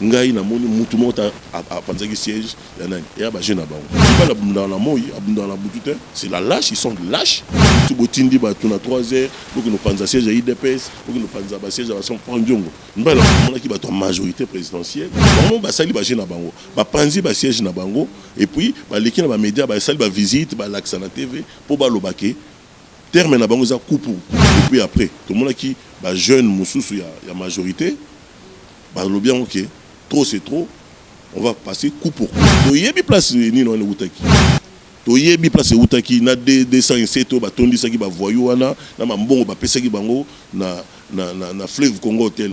Ngai na moni mutu moko ta apanzaki siège ya nani ya ba jeux na bango. Fally abundaka na moyi, abundaka na butu te. C'est la lache, ils sont lache. Tout bo tindi batu na trois heures, bo kende panza siège ya udps, bo kende panza ba siège ya ba franc diongo. Mbele omonaki batu ya majorite presidentielle, bango ba sali ba jeux na bango. Ba panzi ba siège na bango et puis ba leki na ba media ba sali ba visite, ba lakisa na TV po ba loba ke terme na bango eza coup pour coup. Et puis après, to monaki ba jeunes mususu ya majorite, Balobi yango ke trop c'est trop on va passer coup pour coup. Toyebi place nini wana ewutaki. Toyebi place ewutaki na 207 oyo batondisaki ba voyous wana na ba mbongo bapesaki bango na, na, na, na Fleuve Congo Hotel.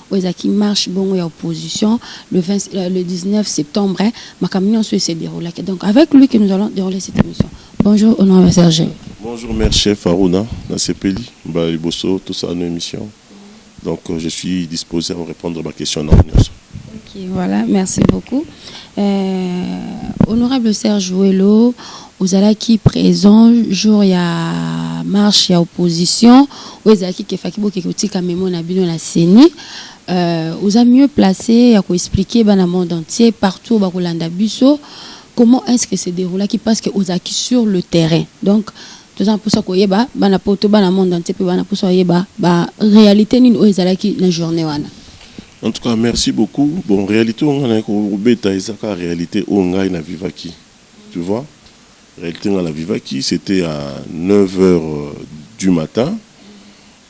Oyo ezalaki marche bongo ya opposition le 20, euh, le 19 septembre makambo nyonso ese deroulaki donc avec lui que nous allons dérouler cette émission bonjour au nom de serge bonjour mère chef aruna nasepeli mbala liboso tosala no émission donc euh, je suis disposé à vous répondre ba question na nyonso ok voilà merci beaucoup euh, honorable serge welo Ozalaki present jour ya marche ya opposition oyo ezalaki ke faki bokeke kotika memo na bino na ceni euh, oza mieux place ya ko expliquer bana monde entier partout bakolanda biso comment est-ce que se déroulaki parce que ozalaki sur le terrain donc toza na mposa koyeba bana poto bana monde entier mpe bana mposa koyeba ba réalité nini oyo ezalaki na journée wana En tout cas, merci beaucoup. Bon, réalité, on a un beta, et ça, réalité, on a une vivaki. tu vois realite nga na vivaki c'etait à 9 heures du matin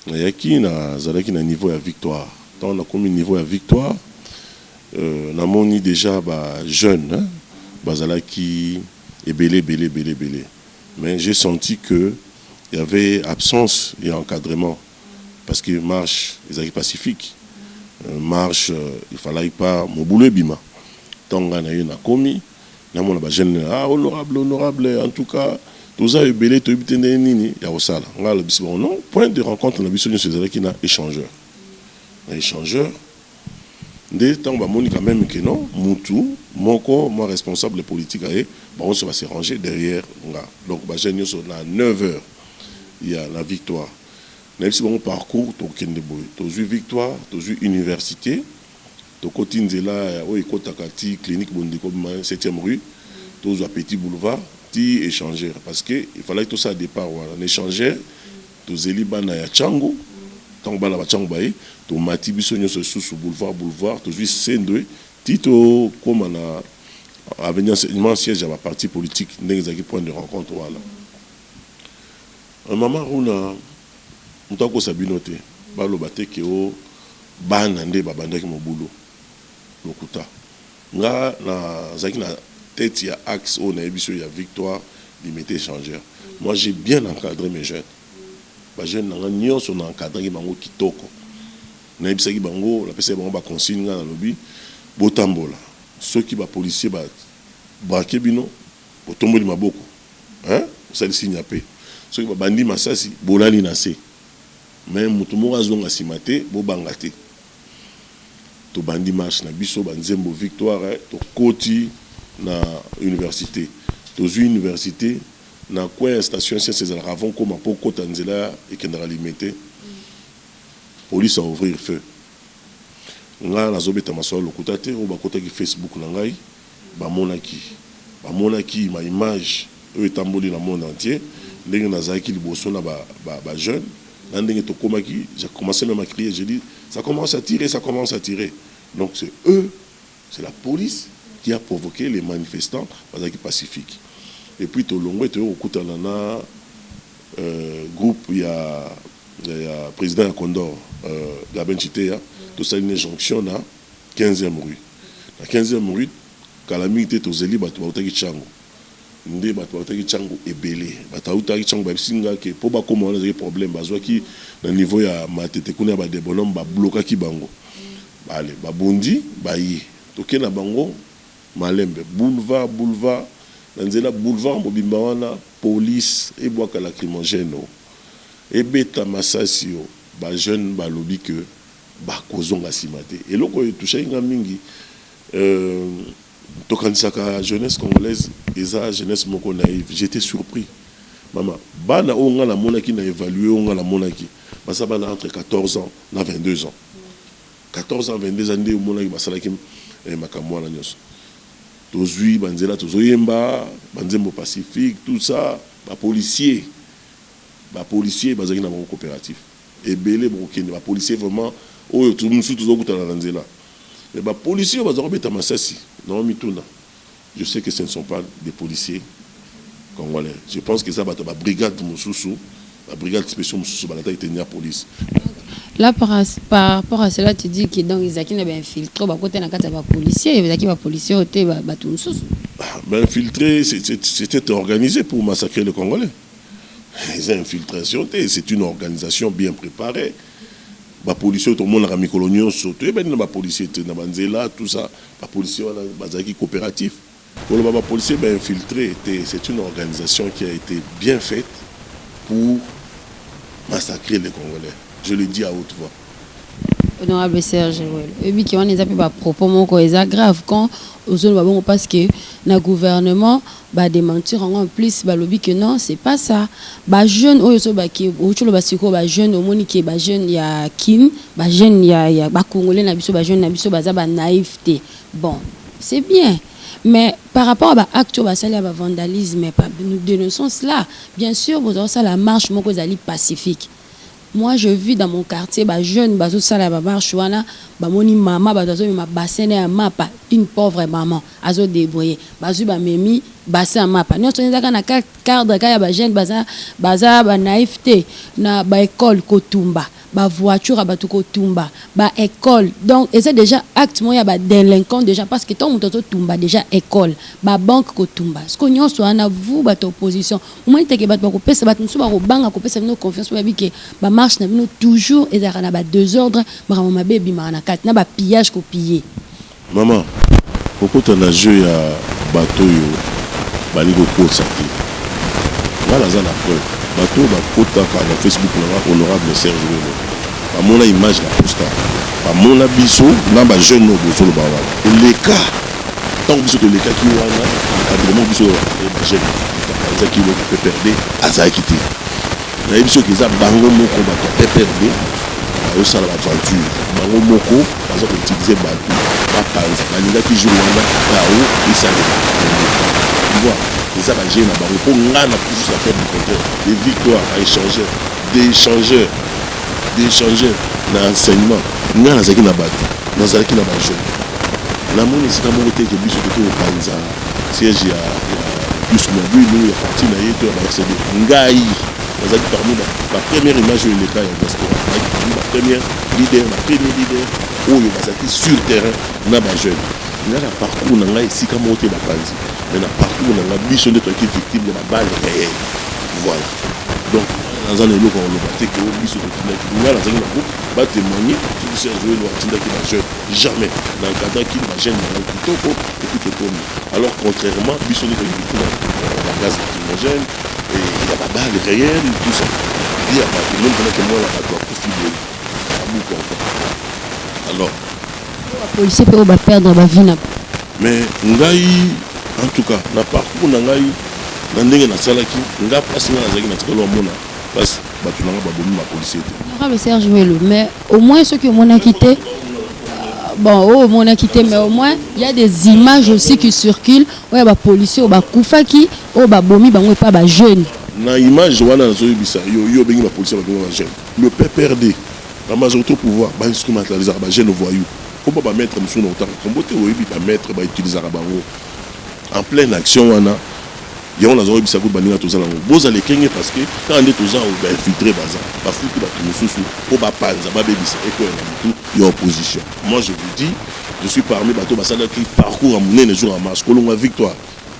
na yaki na zalaki na niveau ya victoire tango na komi niveau ya victoire euh, na moni dejà ba jeunes hein, bazalaki ebele ebele ebele ebele mais j'ai senti que il y avait absence ya encadrement parce que marche ezalaki pacifique euh, marche euh, il fallait pas mobulu ebima tango nga na ye na komi na mona ba jeune ah honorable honorable en tout cas toza ebele toyebi te ndenge nini ya kosala ngai alobisi bango non point de rencontre na biso nyonso ezalaki na échangeur na échangeur nde ntango bamoni quand même que non mutu moko mwa responsable politique aye bango nyonso ba se ranger derrière nga donc ba jeune nyonso na 9 heures ya na victoire nayebisi bango parcours tokende boye tozwi victoire tozwi université Tokoti nzela ya oyo ekotaka ti clinique bondeko mais septième rue tozua petit boulevard ti echanger parce que il fallaki tosala depart wana na echanger tozeli bana ya tshangu tango bana ba tshangu baye tomati biso nionso lisusu boulevard boulevard tozui sendwe ti tokoma na avenue enseignement siège ya ba partis politiques ndenge ezalaki point de rencontre wana maman runa Moto akosa bino te baloba te que oh bana nde babandaki mobulu. Lokuta. Nga na zalaki na tete ya axe oyo nayebisi yo ya victoire limete echanger. Moi j'ai bien encadre mes jeunes. Ba jeunes na nga nionso na encadraki bango kitoko. Nayebisaki bango, napesaki bango ba consignes nga nalobi botambola soki ba policiers ba braquer bino, Botomboli maboko hein bosali signe ya paix soki ba bandi masasi bolali na se mais mutu moko azonga sima te bobanga te tobandi marche na biso ba nzembo victoire tokoti na universite tozui universite na coin ya station essence ezalaka avant okoma po okota nzela ekendaka limete police a ouvrir feu nga nazo beta masolo ya lokuta te oyo bakotaki Facebook na ngai. Bamonaki, bamonaki ma image oyo etamboli na monde entier, ndenge nazalaki liboso na ba, ba, ba jeunes, na ndenge tokomaki, j'ai commence meme à crier, j'ai dit, ça commence à tirer, ça commence à tirer! Donc c'est eux, c'est la police qui a provoque les manifestants, bazalaki pacifique. Et puis tolongwe, toye kokutana na groupe ya, ya President ya Condor, Gabin Tshiteya, tosali na ye jonction na. Quinzième rue. Na quinzième rue, kala mingi te tozeli bato bautaki Tshangu. Nde bato bautaki Tshangu ebele. Bato bautaki Tshangu bayebisi nga que mpo bakoma wana ezalaki problème. Bazuaki na niveau ya Matete kuna ya ba de Bonhomme ba bloquaki bango. Allez, babundi baye. Toke na bango malembe. Boulevard, boulevard, na nzela boulevard mobimba wana police ebwaka lacrymogène o, ebeta masasi o. Ba jeunes balobi que. Bakozonga sima te. Eloko oyo e touchaki nga mingi, tokanisaka jeunesse congolaise eza jeunesse moko naive. J'etais surpris. Mama, bana oyo nga namonaki, na evaluer oyo nga namonaki, baza bana entre 14 ans na 22 ans. 14 ans, 22 ans nde omonaki basalaki makambo wana nionso. Tozui ba nzela tozo yemba, ba nzembo pacifique, tout ça. Ba policiers, ba policiers bazalaki na bango cooperatif. Ebele bokokende ba policiers vraiment oyo tu mususu tozo kutana na nzela mais ba policiers oyo baza kobeta masasi nao mituna je sais que ce ne sont pas des policiers congolais je pense que eza bato ya ba brigades mususu ba brigades speciaux mususu balataki tenue ya police. Là par rapport à cela tu dis que donc ezalaki na ba infiltres bakota na kati ya ba policiers ezalaki ba policiers oyo te bato mususu? Ba infiltres c'etait organisé pour massacrer les congolais. eza infiltration te c'est une organisation bien préparée bapolisier oyo tomonaka mikolo nyonso toyebani na bapolisier te na banzela tout ça bapolisier wana bazalaki coopératif koloba bapolisier bainfiltre te c'est une organisation qui a été bien faite pour massacrer les congolais je le dis à haute voix honorable serge welo oyebi ke wana eza mpe bapropos moko eza grave quand ozoloba bongo parce que na gouvernement badementir yango en plus balobi ke non c'est pas ça bajeune oyo ozoloba ke outi oloba sikoyo bajeune omoni ke bajeune ya kin bajeune ya, ya bacongolais na biso bajeune na biso baza banaïve te bon c'est bien mais par rapport à ba acte oyo basali ya bavandalisme nous dénonçons cela bien sûr bozala kosala marche moko ezali pacifique Moi je vis dans mon quartier ba jeunes bazo sala ba marche wana ba moni maman batu bazo mema bassin naye ya mapa une pauvre maman azo debrouille bazui ba memi bassin ya mapa nionso wana eza kaka na cadre kaka ya ba jeunes baza baza ba naïf te na ba ecole kotumba ba voiture ya batu kotumba ba ecole donc eza dejà acte moko ya ba delinquants dejà parce que tango mutu azo tumba dejà ecole ba banque kotumba siko nionso wana vous batu opposition omoni teke bato bakopesa bato mosusu bakobanga kopesa bino confiance mpo bayebi ke bamarche na bino toujours ezalaka na badesordre makambo mabe ebimaka na kati na bapillage kopille mama kokota na jeu ya bato oyo balingi kokosa te ngai naza na preuve bato oyo bakotaka na facebook na ngai honorable serge welo bamona image na posta bamona biso na bajeune oyo bozoloba wana eleka tango biso tolekaki wana encadrement biso ya majeur apanzaki eloko PPRD azalaki te nayebi biso ke eza bango moko bato ya PPRD bazosala baventure bango moko baza koutilize bato bapanza balingaki jour wana kao esalema voir eza bajeu na bango mpo ngai na toujours na perte du compteur de victoire à échangeur d'échangeur d'echanger na enseignement ngai nazalaki na batu nazalaki na ba jeunes namoni esika moko te ke biso tokoki kopanza siège ya plus mobile ya parti na ye to ya ba RCD ngai nazalaki parmi ba première image oyo eleka ya diaspora nazalaki parmi ba première leader ba premier leader oyo bazalaki sur terrain na ba jeunes ngai na parcours na ngai esika moko te bapanzi mais na parcours na ngai biso nde toyaki victime ya ba balle réel voilà donc Naza na eloko ya koloba te que biso totindaki nga nazalaki na groupe ba temoigner soki Serge Welo atindaki ba jeunes jamais na encadraki ba jeunes na ngai kitoko epuis tokomi alors contrairement biso nde tolingi kotinda ba gaz lacrymogène et ya ba balles reelles tout ça vie ya batu meme pendant que mwana batu akufi boye abuka encore alors Ba policiers pe oyo ba perdre ba vie na bango. Mais ngai en tout cas na parcours na ngai na ndenge na salaki nga pasi nga nazalaki na tikalo ya mona pasi bato na nga babomi ba policier te. Honorable Serge Welo mais au moins soki omonaki te bon oyo omonaki te mais au moins il y a des images aussi qui circulent oyo ba policiers oyo bakufaki oyo babomi bango epa ba jeunes na image wana nazoyebisa yo yo obengi bapolisi ya babenga bagene le pprd bamazalaki to pouvoir bainstrumentalisaka bagene voyou Koma ba maitre mususu na kotanga kombo te oyebi ba maitre ba utilisaka bango en pleine action wana yango naza oyebisa ko baninga toza nango bozala ekenge parce que kaka nde toza awa ba infiltre baza bafuti bato mosusu mpo bapanza babebisa ekweya na motu ya opposition moi je vous dis je suis parmi bato basalaki parcours ya monene jour ya marche kolongwa victoire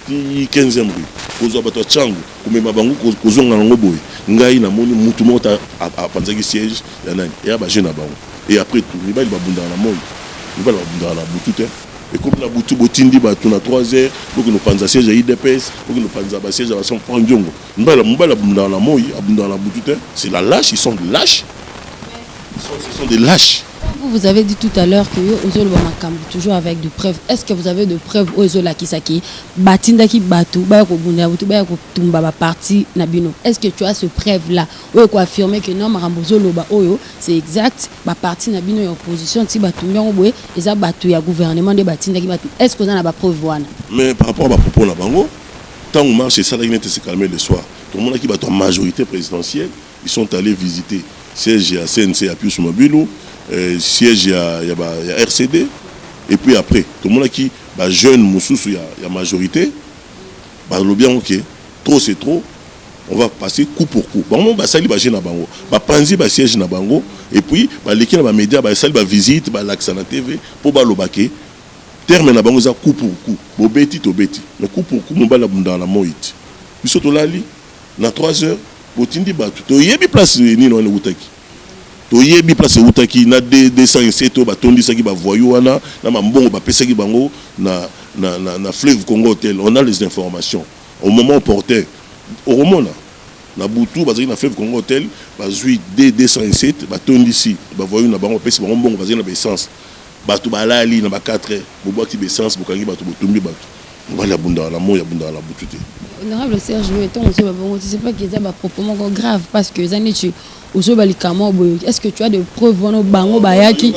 ti 15e rue kozwa bato ya changu komema bango kozonga nango boye ngai namoni motu moko apanzaki siège ya nani eya baje na bango et après tout mibali ba bundaka na moyi mibali ba bundaka na butu te ekomi na butu bo tindi batu na 3 heures bo kino panza siège ya udps bo kino panza ba siège ya ba son franc ndiongo mibali mibali ba bundaka na moyi abundaka na butu te c'est la lâche ils sont de lâche ils sont, ils sont des lâches Vous, vous avez dit tout à l'heure que yo ozo loba makambo toujours avec de preuves. Est-ce que vous avez de preuves oyo ezo lakisa ki batindaki bato baya kobunda bato baya kotumba ba parti na bino? Est-ce que tu as ce preuve là Oyo eko affirmer que non makambo ozo loba oyo c'est exact, ba partis na bino ya opposition ti ba tumbi yango boye eza batu ya gouvernement nde ba tindaki batu, est ce que oza na ba preuves wana? Mais par rapport à ba propos na bango, tango marche esalaki neti se calmer le soir, tomonaki batu ya majorite presidentielle ils sont allez visiter siège ya CNC ya Pius Mabilu, euh, siège ya ya ba ya RCD et puis après tomonaki ba jeunes mususu ya ya majorite Balobi yango que trop c'est trop, on va passer coup pour coup. Bango moko basali ba jeux na bango, bapanzi ba sieges na bango et puis baleki na ba medias, basali ba visites, balakisa na TV mpo baloba que terme na bango eza coup pour coup. Bobeti tobeti, mais coup pour coup mobali abundaka na moi te. Biso tolali na trois heures, botindi bato, toyebi place nini wana ewutaki. Toyebi place ewutaki na 207 oyo batondisaki ba voyous wana na ba mbongo bapesaki bango na na na fleuve congo hotel on a les informations au moment opportun okomona na butu bazali na fleuve congo hotel bazui de 207 batondisi ba voyous na bango bapesi bango mbongo bazali na ba essence bato balali na ba 4 heures bobwaki ba essence bokangi bato botumbi bato mobali abundaka na moi abundaka na butu te. Honorable Serge, mais tant que ba bongo, c'est pas qu'ils ont ba propos moko grave parce que ça n'est ozoba likama boye est ce que tu as des preuves wana bango bayaki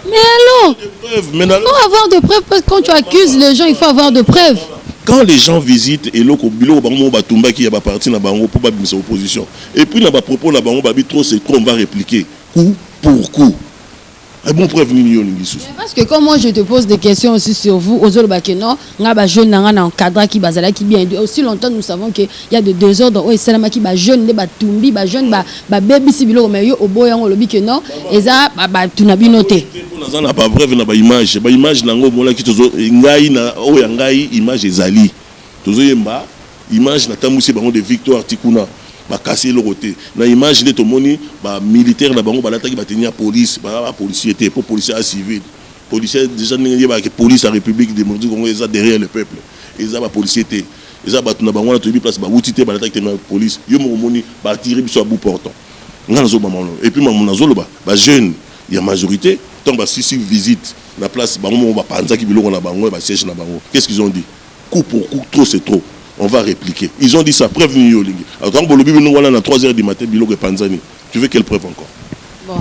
mais alors faut avoir de preuves parce que quand tu accuses les gens il faut avoir de preuves quand les gens visitent eloko biloko bango moko batumbaki ya baparti na bango mpo babimisa opposition et puis na bapropos na bango babi trop c'est trop on va répliquer coup pour coup Eh bon preuve nini yo olingi susu parce que quand moi je te pose des questions aussi sur vous ozoloba que non nga ba jeune na nga na encadraki bazalaki bien aussi longtemps nous savons que y a de désordre oyo esalamaki ba jeune nde batumbi ba jeune ba babebisi biloko mais yo oboya yango olobi que non eza bato na bino te naza na ba preuve na ba image ba image na yango omonaki tozo ngai na oyo ya ngai image ezali Tozo yemba image na tambwisi bango de victoire ti kuna ba kasi eloko te na image nde tomoni ba militaire na bango balataki ba tenue ya police baza ba policier te po policier aza civile policier dejà ndenge eyebaka ke police ya republique democratique du congo eza derrière le peuple eza ba policier te eza batu na bango wana toyebi place ba wuti te balataki tenue ya police yo moko omoni ba attire biso à bout portant nga nazo bama wana et puis mamu nazo loba ba jeune ya majorite tango ba sisi visite na place bango moko ba panzaki biloko na bango ya ba siège na bango qu'est ce qu'ils ont dit? Coup pour coup trop c'est trop on va repliquer ils ont dit ça preuve nini yo olingi alors tango bolobi bino wana na 3 heures du matin biloko epanzani tu veux quelle preuve encore Bon,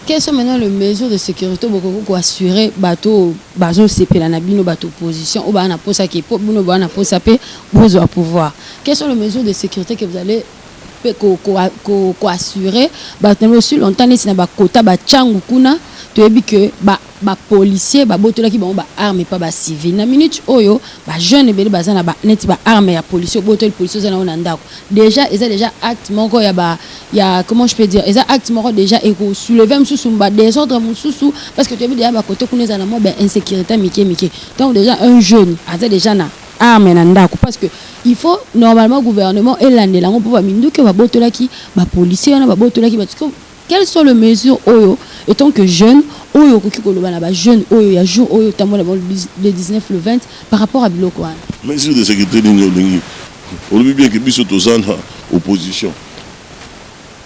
quelles sont maintenant les mesures de sécurité oyo bokoki ko assurer bato oyo bazosepela na bino bato opposition oyo baa na mposa ke mpo bino baa na mposa mpe bozwa pouvoir quelles sont les mesures de sécurité que vous allez pe ko ko ko ko assurer bato na aussi longtemps neti na ba kota ba changu kuna toyebi que ba ba policiers ba botolaki bango ba armes pa ba civil na minute oyo ba jeunes ebele baza na ba neti ba armes ya policier obotoli policier oza na yo na ndako déjà eza déjà acte moko ya ba ya comment je peux dire eza acte moko déjà eko soulever mosusu ba désordre mosusu parce que toyebi déjà ba kote kuna eza na mwa ba insécurité mike mike donc déjà un jeune aza déjà na arme na ndaku parce que il faut normalement gouvernement elandela yango mpo baminduki oyo babotolaki bapolicier wana babotolaki bato quelles sont les mesures oyo étant que jeune oyo okoki koloba na bajeune oyo ya jour oyo otambola bango le 19 le 20 par rapport ya biloko wana mesure de sécurité nini olingi olobi bien ke biso toza na opposition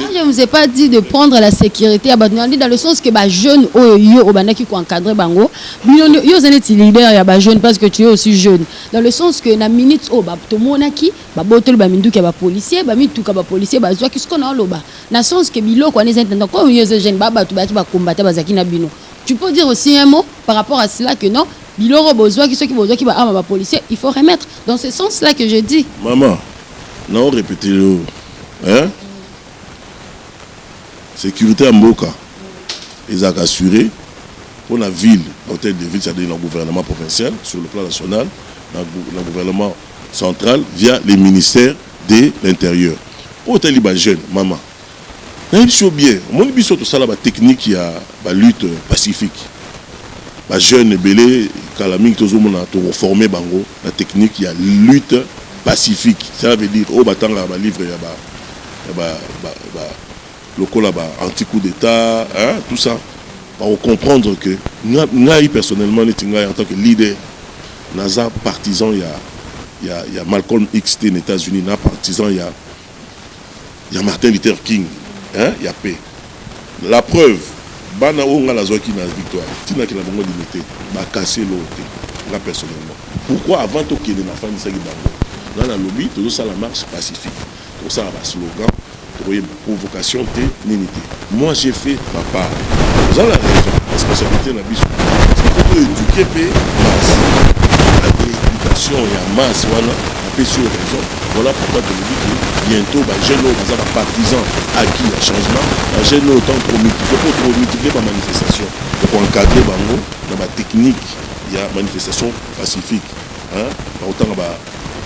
Moi, je ne vous ai pas dit de prendre la sécurité à Badouandi dans le sens que les jeunes, oh, yo, obandaki ko encadrer bango. Bino, yo, vous êtes leader ya ba jeunes parce que tu es aussi jeune. Dans le sens que na minute, oh, ba, to monaki, ba botol, ba minduki ya ba policiers, ba mituka ba policiers, ba zwa, qu'est-ce qu'on a loba? Na sens que bilo, quoi, les intendants, comme yo, jeunes, ba, ba, tu ba, tu ba combattre, ba, zaki na bino. Tu peux dire aussi un mot par rapport à cela que non, biloro bozwa, qui ceux qui bozwa, qui ba, ama, ba policiers, il faut remettre. Dans ce sens-là que je dis. Maman, Nao repeter yo hein securite ya mboka ezalaka assurée pour la ville na hôtel de ville c'est-à-dire na gouvernement provincial sur le plan national na, na gouvernement central via les ministères de l'intérieur mpo otali bajeune mama Nayebisi yo bien omoni biso tosala ba technique ya ba lutte pacifique ba jeune ebele kala mingi tozo mona toko forme bango na technique ya lutte pacifique cela veut dire oyo batangaka ba livre ya ba ya ba ba lokola ba anti coup d'etat hein tout ça bako comprendre que ngai personnellement neti ngai en tant que leader naza partisan ya ya ya Malcolm X te na Etats-Unis na partisan ya ya Martin Luther King hein, ya paix. La preuve, bana oyo nga nazwaki na victoire, tinaki na bango limite, bakasi eloko te. Nga personnellement, pourquoi avant tokende nafandisaki bango, nga nalobi tozosala marche pacifique, tokosala ba slogan, tokoyemba provocation te, nini te. Moi j'ai fait ma part oza na raison responsabilite na biso soko to eduquer pe masse na education ya masse wana apesi yo raison voilà pourquoi tolobi que bientôt ba jeune oyo baza ba partisans acquis ya changement ba jeune oyo tant promultiplier po promultiplier ba manifestation ya ko encadrer bango na ba technique ya manifestation pacifique bakotanga ba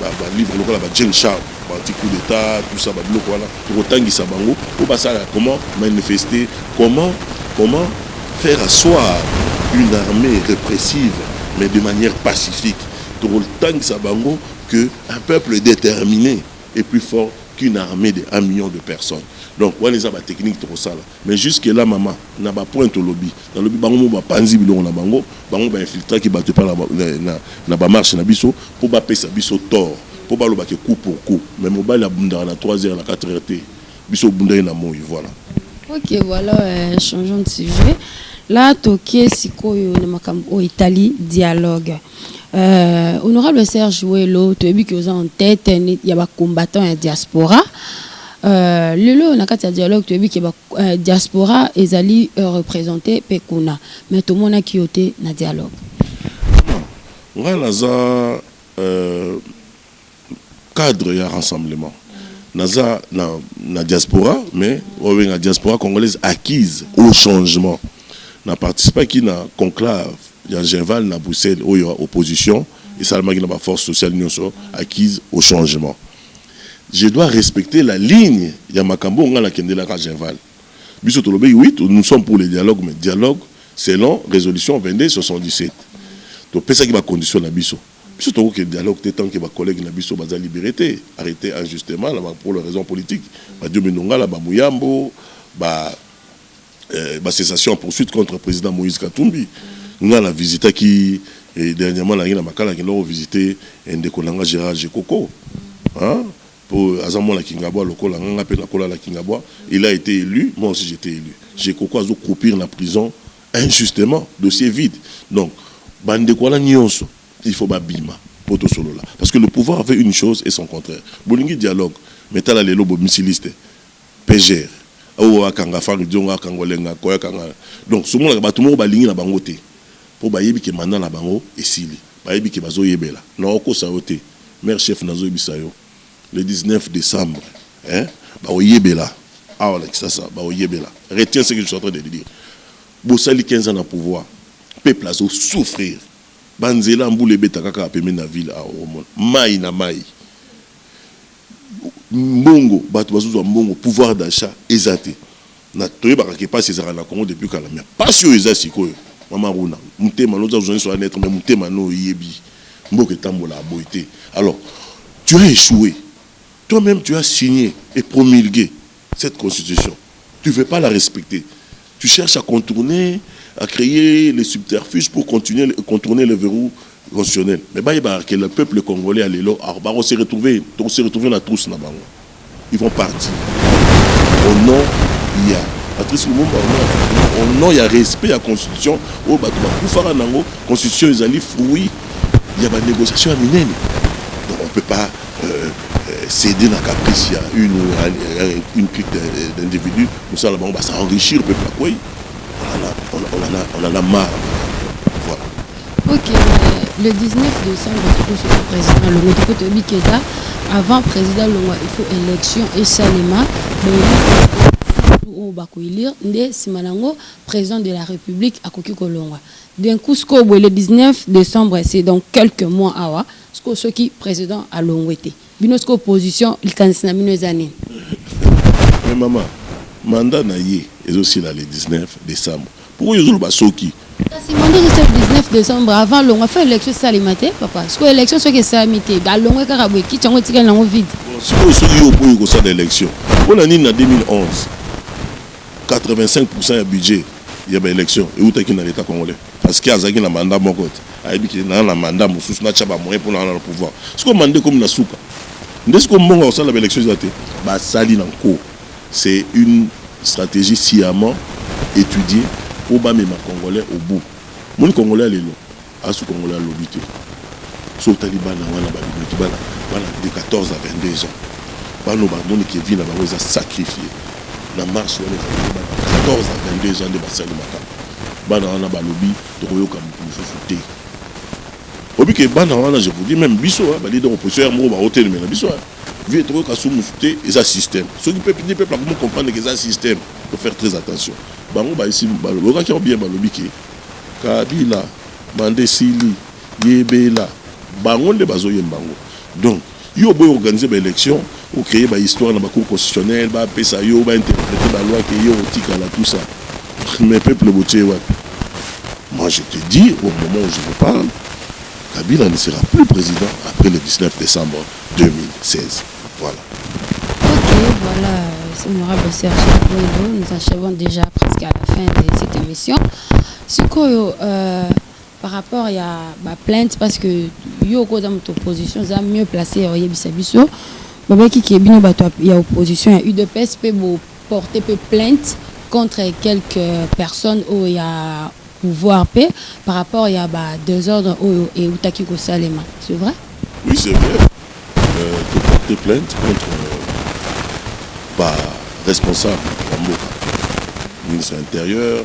ba livre lokola ba jeune charles ba anti coup d'état tout ça ba biloko wana Tokotangisa bango po basala comment manifester comment comment faire assoir une armee repressive mais de manière pacifique tokotangisa bango que un peuple determine est plus fort qu'une armee de un million de personnes donc wana eza ba technique tokosala. Mais jusque là maman na ba points olobi nalobi bango moko ba panzi biloko na bango bango ba infiltraki batu epa na na ba marche na biso po ba pesa biso tord po ba loba ke coup pour coup mais mobali abundaka na trois heures na quatre heures te biso obundaki na moyi voila. Ok voila euh, changeons de sujet là toke sikoyo na makambo oyo etali dialogue euh, honorable Serge Welo toyebi ke oza en tête ya ba combattants ya diaspora Euh, lelo oyo na kati ya dialogue toyebi ke euh, diaspora ezali euh, représente mpe kuna mais tomonaki yo te na dialogue ngai naza euh, cadre ya rassemblement naza na, na diaspora mais obenga diaspora congolaise acquise au changement na participaki na conclave ya genval na bruxelles oyo ya opposition esalamaki na baforce sociale nyonso acquise au changement Je dois respecter la ligne ya makambo oyo ngai na kendelaka Genval. Biso tolobeki oui nous sommes pour le dialogue mais dialogue selon resolution 2277. Topesaki ba conditions na biso. Biso toko ke dialogue te tant que ba collègues na biso baza liberes te, arretes injustement na ba pour le raison politique. Ba Diomi Ndongala, ba Muyambo, ba. eh, ba cessation en poursuite contre président Moïse Katumbi nga na visitaki eh, dernièrement na ngi na makala ki ndoko visiter eh, ndeko na nga Gérard Jekoko hein po aza mwana Kingabwa lokola nga nga pe na kola la Kingabwa il a été élu moi aussi j'étais élu Jekoko azo croupir na prison injustement dossier vide donc bande quoi la nyonso il faut babima pour tout solo là parce que le pouvoir avait une chose et son contraire bolingi dialogue mais tala lelo bo misiliste Peger oyo akanga fally diongo akanga olenga koya kanga donc somonaka batu moko balingi na bango te po bayebi ke mandat na bango esili bayebi ke bazo yebela non okosa yo te mere chef nazo yebisa yo le 19 decembre eh bako yebela awa na kisasa bako yebela retiens ce que je suis entrain de te dire bosali 15 ans na pouvoir peuple azo souffrir ba nzela mbula ebetaka kaka pembeni na ville awa okomona mayi na mayi mbongo batu bazo zwa mbongo pouvoir d'achat eza te na toyebaka ke pasi ezalaka na Congo depuis kala mais pasi oyo eza sikoyo mama Runa mutema no oza journaliste oza neutre mais mutema no oyebi mboka etambolaka boye te alors tu as echoue toi meme tu as signe et promulgue Cette constitution tu veux pas la respecter tu cherche à contourner à creer les subterfuges pour continuer contourner le verrou constitutionnel mais bayeba que le peuple congolais ya lelo bako se retrouver toko se retrouver na trousse na bango ils vont partir au nom ya Patrice Lumumba au nom ya respect ya constitution oyo batu bakufaka na yango constitution ezali fruit ya ba negociation ya minene donc on peut pas ceder na caprice ya une ou une clique d'individus mosala bango ba s'enrichir peuple akwei on en a marre voilà ok le 19 décembre tokoso ko président alongo toko toyebi keda avant président alongwa il faut élection esalema oyo bakoelire nde nsima na yango président de la république akoki kolongwa d'un coup sikoyo boye le 19 décembre c'est donc quelques mois awa Sikoyo soki president alongwe te bino sikoyo opposition likanisi na bino eza nini? Mais maman, mandat na ye ezo sila le 19 decembre. Pourquoi ozo loba soki? Kasi mandat ezo sila le 19 decembre avant alongwa faut election esalema te papa. Sikoyo election soki esalami te alongwe kaka boye kiti yango etikali nango vide? Bon sikoyo soki yo oboyi kosala election pona nini na 2011 85% ya budget ya ba election ewutaki na l'etat congolais? Parce que azalaki na mandat moko te ayebi ke naza na mandat mosusu natia ba moyen pona na pouvoir sikoyo mandat ekomi na suka nde sikoyo mbongo ya kosala ba election eza te basali na nko c'est une strategie sciamment etudier po bamema congolais au bout moni congolais ya lelo asu congolais ya lobi te so otali bana wana babimaki bana bana de 14 à 22 ans bano bamoni ke vie na bango eza sacrifie na marche wana ezalaki bana 14 à 22 ans nde basali makambo Bana wana balobi tokoyoka mutu mususu te. Oyebi ke bana wana je vous dis meme biso ba leader opposition ya moko ba otelemela biso vie tokoyoka su musu te eza système. Soki peuple ni peuple akomi comprendre ke eza système faut faire très attention. Bango ba esi bayokaki yango bien balobi ke Kabila manda esili yebela bango nde bazo yemba yango donc Yo oboyi organiser ba elections, o creer ba histoires na ba cours constitutionnelle, ba pesa yo, ba interpreter ba lois que yo otikala tout ça. Mais peuple botie ye wapi? Moi je te dis au moment où je vous parle, Kabila ne sera plus president après le 19 decembre 2016. Voilà. Ok, voilà, c'est l'honorable Serge Kabongo. Nous en déjà presque à la fin de cette émission. Sikoyo, euh, Par rapport ya ba plainte parce que yo ko za moto opposition za mieux placé ya oyebisa biso babaki ke bino bato ya opposition ya udps pe bo porter pe plainte contre quelques personnes oyo ya pouvoir pe par rapport ya ba desordre oyo eutaki kosalema c'est vrai oui c'est vrai euh, to porter plainte contre euh, ba responsable ya mboka ministre ya intérieur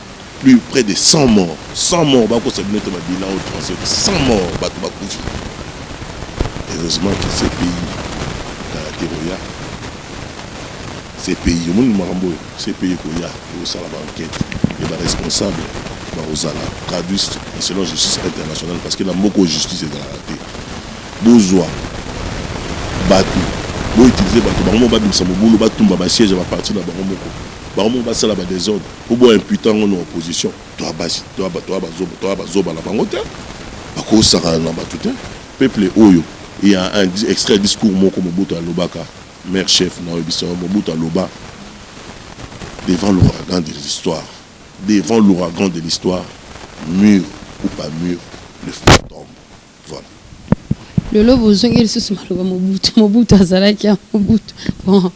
plus près de 100 morts 100 morts bakosa bino te babilan oyo transfert 100 morts bato bakufi heureusement que ce pays karate koya ce pays omoni makambo oyo ce pays koya ekosala baenquête e baresponsable bakozala traduit na selon justice internationale parce que na mboka oyo justice ezalaka te bozwa bato boutilize bato bango moko babimisa mobulu batumba basiège ya baparti na bango moko bango moko basala badesordre Po bo imputant ngo na opposition toa basi toa ba toa ba zoba toa ba zoba na bango te bako sakana na batu te peuple oyo il y a un extrait discours moko Mobutu alobaka mère chef na oyebisa yo Mobutu aloba devant l'ouragan de l'histoire devant l'ouragan de l'histoire mur ou pas mur le feu tombe Voilà. lelo bozongi lisusu maloba mobutu mobutu azalaki ya mobutu bon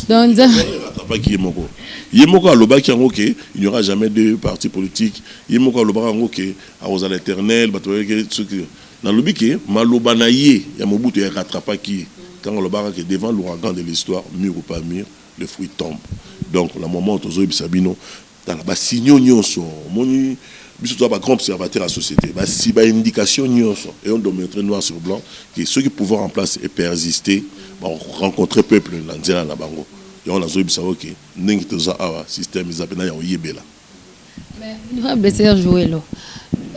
donc nzambe alobaki ye moko ye moko alobaki yango ke il n'y aura jamais de parti politique ye moko alobaka yango ke akozala éternel bato bayeke soki nalobi ke maloba na ye ya mobutu ya rattrapaki ye ntango alobaka ke devant l'ouragan de l'histoire mur ou pas mur le fruit tombe donc na moment oyo tozoyebisa bino Tala ba signaux nionso omoni biso toza ba grand observateur ya societe ba si ba indication nionso et on dometre noir sur blanc que soki pouvoir en place e persiste ba rencontre peuple na nzela na bango yango na zoyebisa yo ke ndenge toza awa système eza pena ya oyebela Mais honorable Serge Jouelo,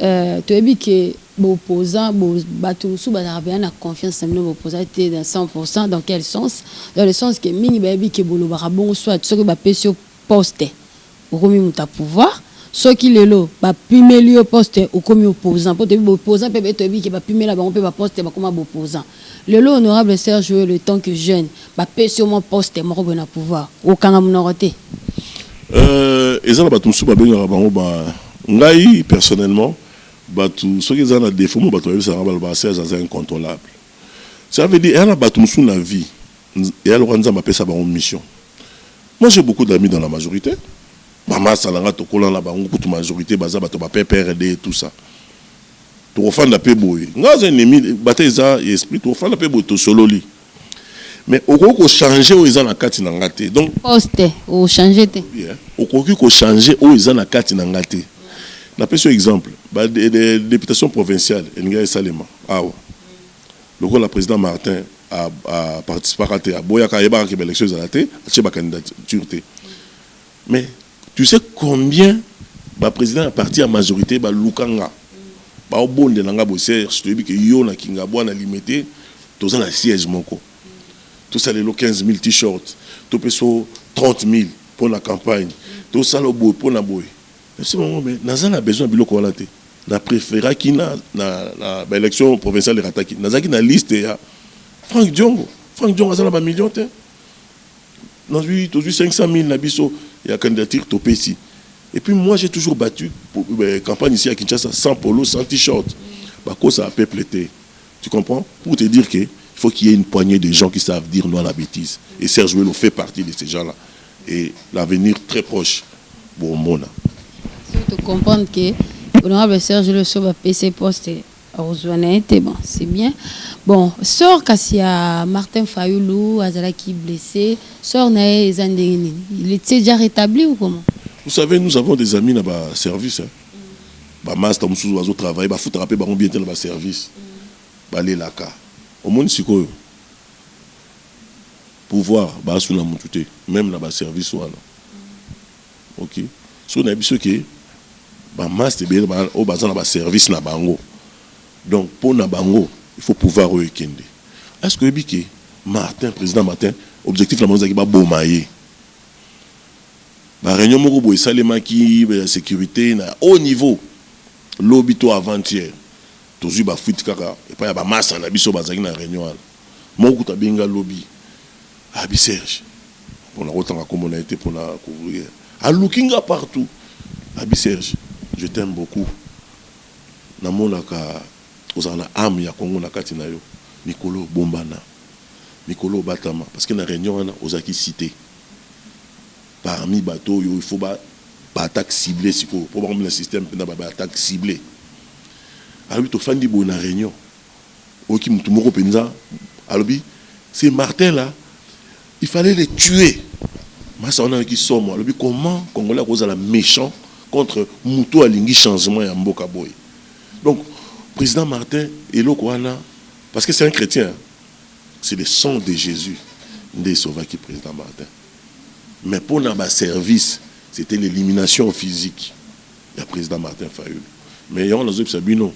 euh, tu as dit que opposants, bato sous bazarabia na confiance na bino opposants te dans 100% dans quel sens? Dans le sens que mingi bayebi que bolobaka bongo soit soki bapesi yo poste okomi moto ya pouvoir soki lelo ba pimeli yo poste okomi opposant po toyebi ba opposant pe baye toyebi ke ba pimela bango pe ba poste bakoma ba opposant lelo honorable Serge Yul etant que jeune ba pesi yo mwa poste moko boye na pouvoir okanga munoko te? Euh eza na batu mosusu ba bengaka bango ba ngai personnellement batu soki eza na defaut moko batu ba yebisaka ngai balobaka Serge aza incontrolable ca veut dire eza na batu mosusu na vie Yaya lokola nzambe apesa bango mission moi j'ai beaucoup d'amis dans la majorite ba masta na nga tokola na bango kutu majorite baza bato ba PPRD et tout ça tokofanda pe boye nga aza ennemi bata eza ya esprit tokofanda pe boye tosololi mais okoki ko changer oyo eza na kati na nga te donc poste o changer te okoki ko changer oyo eza na kati na nga te napesi yo exemple ba de, de, de, deputation provinciale elingi esalema awa Lokola president Martin a participaka te, aboyaka, ayebaka que ba elections ezala te, atie ba candidatures te. Mais tu sais combien ba presidents ya parti ya majorite baluka nga, bao bondela nga boye, Serge toyebi que yo na Kingabwa na Limete toza na siège moko, tosala lelo 15000 T-shirts, topesa yo 30000 pona campagne, tosala yo boye pona boye. Merci maman mais naza na besoin ya biloko wana te na preferaki na na na ba election provinciale erataki nazalaki na liste ya Franck Diongo Franck Diongo aza na ba million te nazwi tozwi 500000 na biso ya candidature topesi et puis moi j'ai toujours battu pour, euh, campagne ici à Kinshasa sans polo sans t-shirt bakosa à peuple te tu comprends pour te dire que il faut qu'il y ait une poignée de gens qui savent dire non à la bêtise et Serge Welo fait partie de ces gens là et l'avenir très proche bomona soki to comprendre que honorable Serge Loso ba PC poste akozwa na ye te bon c'est bien bon sort kasi ya Martin Fayulu azalaki blessé sort na ye eza ndenge nini il était déjà rétabli ou comment Vous savez, nous avons des amis dans le service. Hein. Bah, master, nous sommes au travail. Bah, foutre rappel, bah, on bien dans le service. Bah, les laka. Au monde, c'est quoi? Pouvoir ba suna mutu te meme na ba service wana ok soki na yebiso ke ba masta ebele oyo baza na ba service na bango donc pona bango il faut pouvoir oyo ekende est ce que oyebi ke Martin president Martin objectif na bango ezalaki ba boma ye ba reunion moko boye esalemaki ya securite na haut niveau lobi to avant hier tozui ba fuite kaka epai ya ba masta na biso bazalaki na reunion wana Moko kutu abengi nga lobi abi Serge bon nako tanga kombo naye te pona ko aluki nga partout abi Serge je t'aime beaucoup na monaka ozalaka na ame ya Congo na kati nayo mikolo oyo bombana mikolo oyo batama parce que na reunion wana ozalaki cite parmi batu oyo il faut ba attaque cible sikoyo po bakomi na système pena ba attaque cible alobi tofandi boye na reunion Oyoki mutu moko penza alobi c'est Martin là il fallait le tuer. Masa wana ayoki somo alobi comment congolais ako zala mechant contre mutu oyo alingi changement ya mboka boye. Donc president Martin eloko wana parce que c'est un chretien hein c'est le sang de Jesus nde e sauvaki president Martin mais pona ba services c'etait l'elimination physique. ya president Martin fayulu mais yango nazo yebisa bino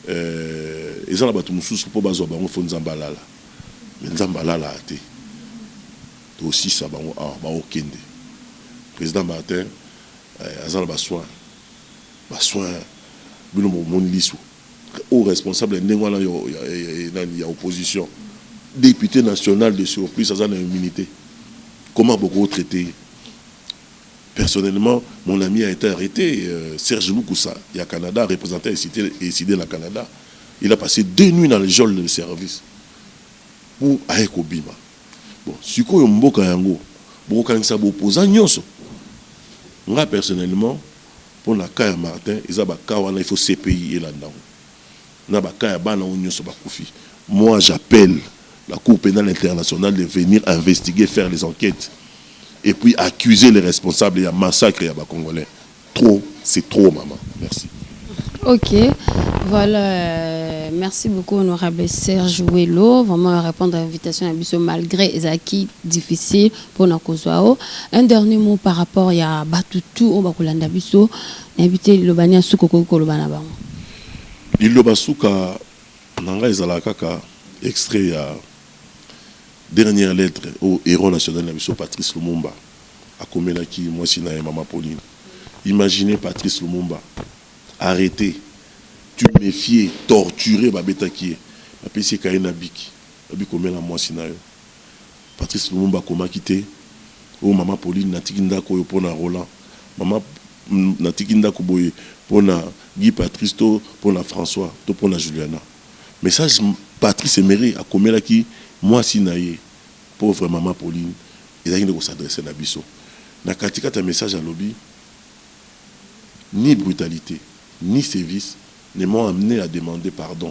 euh, eza na bato mosusu mpo bazwa bango fo nzambe alala mais nzambe alalaka te tosisa bango awa ah, baokende président martin euh, aza na basoin basoin bino bomoni liso au responsable ya ndenge wana nani ya opposition député national de surplus aza na immunité comment bokotraite ye Personnellement, mon ami a ete arrete, Serge Lukusa ya Canada, representant ya Cite Ecide na Canada, il a passe deux nuits na le geol de service pour aye kobima. Bon, sikoyo mboka yango bokokanisa ba opposants nionso? Nga personnellement, pona cas ya Martin, eza ba cas wana il faut CPI elanda ngo. Na ba cas ya bana oyo nioso bakufi, moi j'appelle la cour penale internationale de venir investiguer, faire les enquetes et puis accuser les responsables ya massacre ya ba congolais. Trop c'est trop mama. Merci. Ok voilà merci beaucoup honorable Serge Welo vraiment à répondre à l'invitation à biso malgré ezalaki difficile pour na kozwa o un dernier mot par rapport ya batu tout oyo bakolanda biso na yebi te liloba nini ya suka okoki koloba na bango Liloba suka na nga ezalaka kaka extrait ya dernière lettre oyo heros national na biso Patrice Lumumba akomelaki mwasi na ye mama Pauline. Imaginez Patrice Lumumba arrete, tumefier, torturer, babetaki ye, bapesi ye cahier na bic, balobi komela mwasi na yo. Patrice Lumumba akomaki te, Oh mama Pauline, natiki ndako oyo mpo na Roland. Mama, Natiki ndako boye mpo na Guy Patrice to mpo na François to mpo na Juliana. Message Patrice Emery akomelaki mwasi na ye, pauvre mama Pauline, ezalaki nde ko s'adresser na biso. Na katikati ya message alobi, Ni brutalite, ni sevices ne m'ont amenee à demander pardon.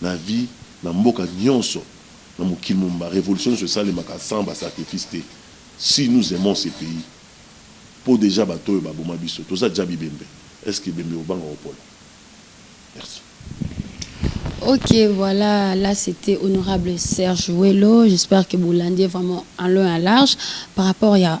Na vie na mboka nionso na mokili mobimba revolution nionso esalemaka sans ba sacrifice te si nous aimons ce pays po dejà bato oyo ba boma biso toza dja bibembe est ce que ebembe ekobanga kopola? Merci. Ok voila la c'etait honorable Serge Welo j'espère que bolandi ye vraiment en long et en large par rapport ya